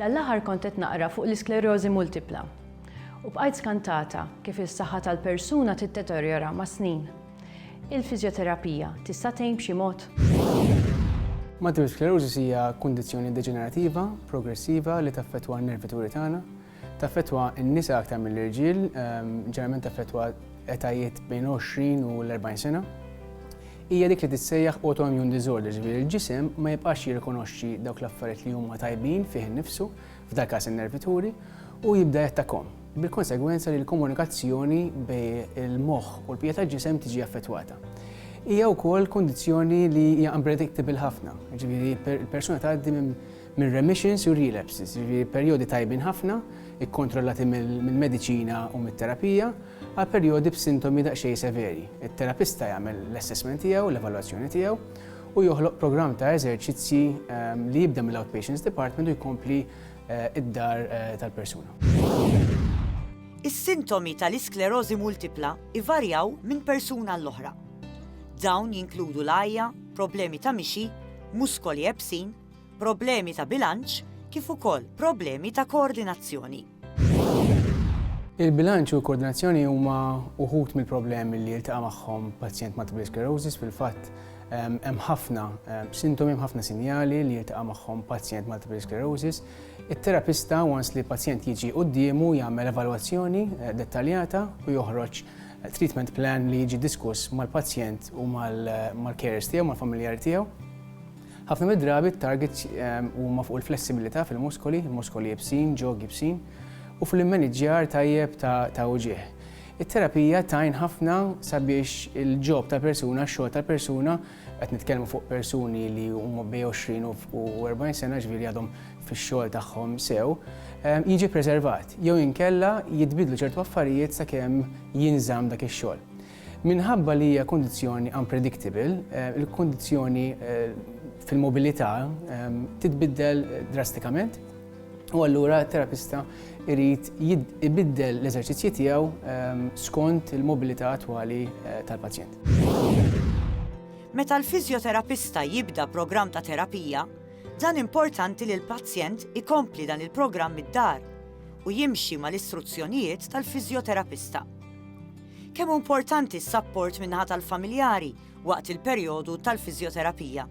Dan l-aħħar kont qed naqra fuq l-isklerożi multipla u bqajt skantata kif is-saħħa tal-persuna tiddeterjora mas-snin. Il-fiżjoterapija tista' tgħin b'xi mod? Multiple sclerosis hija kundizzjoni deġenerativa progressiva li taffettwa n-nervituri tagħna. Taffettwa n-nisa aktar mill-irġiel, ġeneralment taffettwa etajiet bejn 20 u l-40 sena. Hija dik li tissejjaħ autoimmune disorder, ġifieri l-ġisem ma jibqax jirrikonoxxi dawk l-affarijiet li huma tajbin fih innifsu, f'dal każ in-nervituri, u jibda jattakkahom, bil-konsegwenza li l-komunikazzjoni bejn il-moħħ u l-bqija tal-ġisem tiġi affettwata. Hija wkoll kundizzjoni li hija unpredictable ħafna, ġifieri l-persuna tgħaddi minn minn remissions u relapses, jiġifieri perjodi tajbin ħafna, ikkontrollati mill-mediċina u mit-terapija, għal perjodi b'sintomi daqsxejn severi. It-terapista jagħmel l-assessment tiegħu, l-evalwazzjoni tiegħu, u joħloq programm ta' eżerċizzji li jibda mill-outpatients department u jkompli d-dar tal-persuna. Is-sintomi tal-isklerożi multipla jvarjaw minn persuna għall-oħra. Dawn jinkludu l-għajja, problemi ta' mixi, muskoli ebsin, problemi ta' bilanċ kif ukoll problemi ta' koordinazzjoni. Il-bilanċ u l-koordinazzjoni huma uħud mill-problemi li jiltaqa' magħhom pazjent multiple sclerosis fil-fatt hemm ħafna sintomi, hemm ħafna sinjali li jiltaqa' magħhom pazjent multiple sclerosis. It-terapista once li pazjent jiġi quddiemu jagħmel evalwazzjoni eh, dettaljata u joħroġ eh, treatment plan li jiġi diskuss mal-pazjent u mal-carers eh, tiegħu, mal-familjari tiegħu. Ħafna mid-drabi t-targets huma fuq il-flessibilità fil-muskoli, muskoli iebsin, ġog iebsin, u fuq l-immaniġġjar tajjeb ta' uġigħ. It-terapija tgħin ħafna sabiex il-job tal-persuna, x-xogħol tal-persuna, qed nitkellmu fuq persuni li huma bejn 20 u 40 sena, ġifieri għadhom fix-xogħol tagħhom sew, jiġi ppreservat jew inkella jitbiddlu ċertu affarijiet sakemm jinżamm dak ix-xogħol. Minħabba li hija kundizzjoni unpredictable, il-kundizzjoni fil-mobilità titbiddel drastikament u allura t-terapista jrid ibiddel l-eżerċizzji tiegħu skont il-mobilità attwali tal-pazjent. Meta l-fiżjoterapista jibda programm ta' terapija, dan importanti li l-pazjent ikompli dan il-programm mid-dar u jimxi mal-istruzzjonijiet tal-fiżjoterapista. Kemm hu importanti s-sapport min-naħa tal-familjari waqt il-perjodu tal-fiżjoterapija?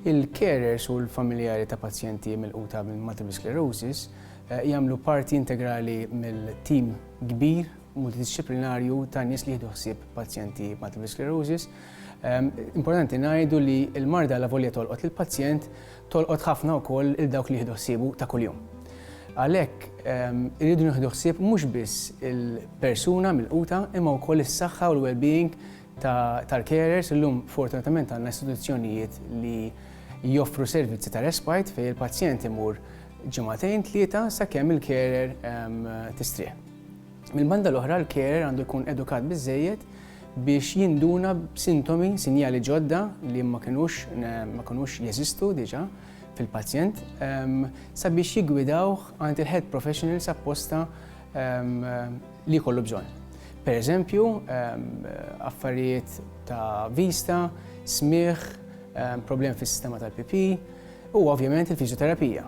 Il-carers u l-familjari ta' pazjenti milquta minn multiple sclerosis jagħmlu parti integrali mill-tim kbir multidixxiplinarju ta' nies li jieħdu ħsieb pazjenti multiple sclerosis. Importanti ngħidu li l-marda lavolja tolqot lill-pazjent, tolqot ħafna wkoll lil dawk li jieħdu ħsiebu ta' kuljum. Għalhekk, irridu nieħdu ħsieb mhux biss il-persuna milquta imma wkoll is-saħħa u l-wellbeing tal-carers, illum fortunatament għandna istituzzjonijiet li joffru servizzi ta' respite fejn il-pazjent imur ġimagħtejn tlieta sakemm il-carer tistrieħ. Mill-banda l-oħra l-carer għandu jkun edukat biżżejjed biex jinduna b'sintomi, sinjali ġodda li ma kinux ma kinux jeżistu diġà fil-pazjent sabiex jiggwidawh għand il-health professionals apposta li jkollu bżonn. Per eżempju, affarijiet ta' vista, smigħ, problemi fis-sistema tal-pipì, Huwa ovvjament il-fiżjoterapija.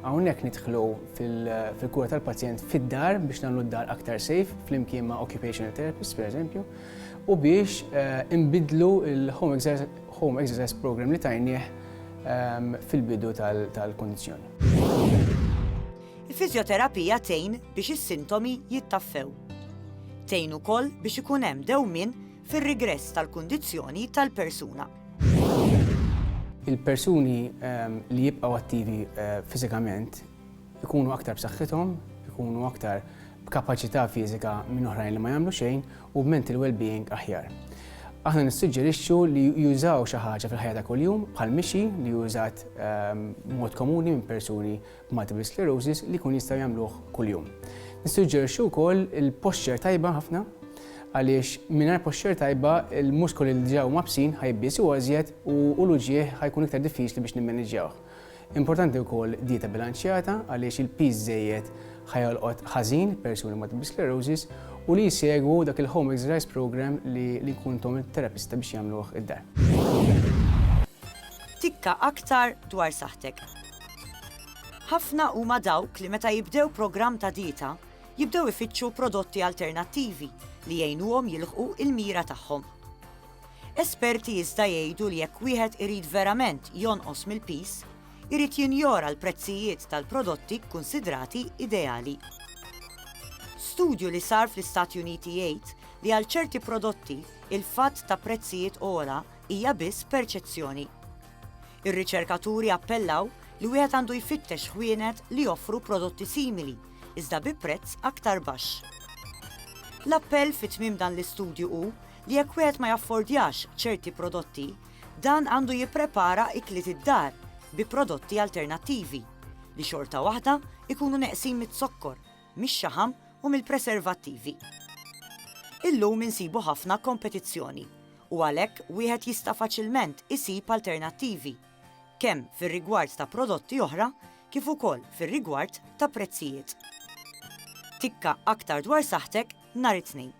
Hawnhekk nidħlu fil-kura tal-pazjent fid-dar biex nagħmlu d-dar aktar safe flimkien ma' occupational therapist pereżempju u biex eh, inbidlu il-home exercise program li tajnieh fil-bidu tal-kondizjoni. Il-fizjoterapija tejn biex is-sintomi jittaffew. Tejn ukoll biex ikun hemm dewmin fir-rigress tal-kundizzjoni tal-persuna. Il-persuni ehm, li jibqgħu attivi eh, fiżikament ikunu aktar b'saħħithom, ikunu aktar b'kapaċità fiżika minn oħrajn li ma jagħmlu xejn u b'mental well-being aħjar. Aħna nissuġġerixxu li jużaw xi ħaġa fil-ħajja ta' kuljum bħal mixi li jużat ehm, mod komuni minn persuni multiple sclerosis li jkun jistgħu jagħmluh kuljum. Nissuġġerixxu wkoll il-posture tajba ħafna għaliex mingħajr posture tajba il-muskoli li ġew mabsin ħajbis u għażjed u l-uġieħ ħajkun iktar diffiċli biex nimmaniġġjawh. Importanti wkoll dieta bilanċjata għaliex il-piż żejjed ħajolqot ħażin persuni ma' sclerosis u li jsegwu dak il-home exercise program li li kuntom il-terapista biex jagħmluh id-dar. Tikka aktar dwar saħtek. Ħafna huma dawk li meta jibdew programm ta' dieta, jibdew ifittxu prodotti alternattivi li jgħinuhom jilħqu l-mira tagħhom. Esperti iżda jgħidu li jekk wieħed irid verament jonqos mill-piż, irid jinjora l-prezzijiet tal-prodotti kkunsidrati ideali. Studju li sar fl-Istati Uniti jgħid li għal ċerti prodotti, il-fatt ta' prezzijiet ogħla hija biss perċezzjoni. Ir-riċerkaturi appellaw li wieħed għandu jfittex ħwienet li joffru prodotti simili, iżda bi prezz aktar baxx. L-appell fi tmiem dan l-istudju hu li jekk wieħed ma jaffordjax ċerti prodotti, dan għandu jipprepara ikliet id-dar bi prodotti alternattivi li xorta waħda jkunu neqsin miz-zokkor mix-xaħam u mill-preservattivi. Illum insibu ħafna kompetizzjoni u għalhekk wieħed jista' faċilment isib alternattivi, kemm fir-rigward ta' prodotti oħra kif ukoll fir-rigward ta' prezzijiet. Tikka aktar dwar saħħtek nhar it-Tnejn.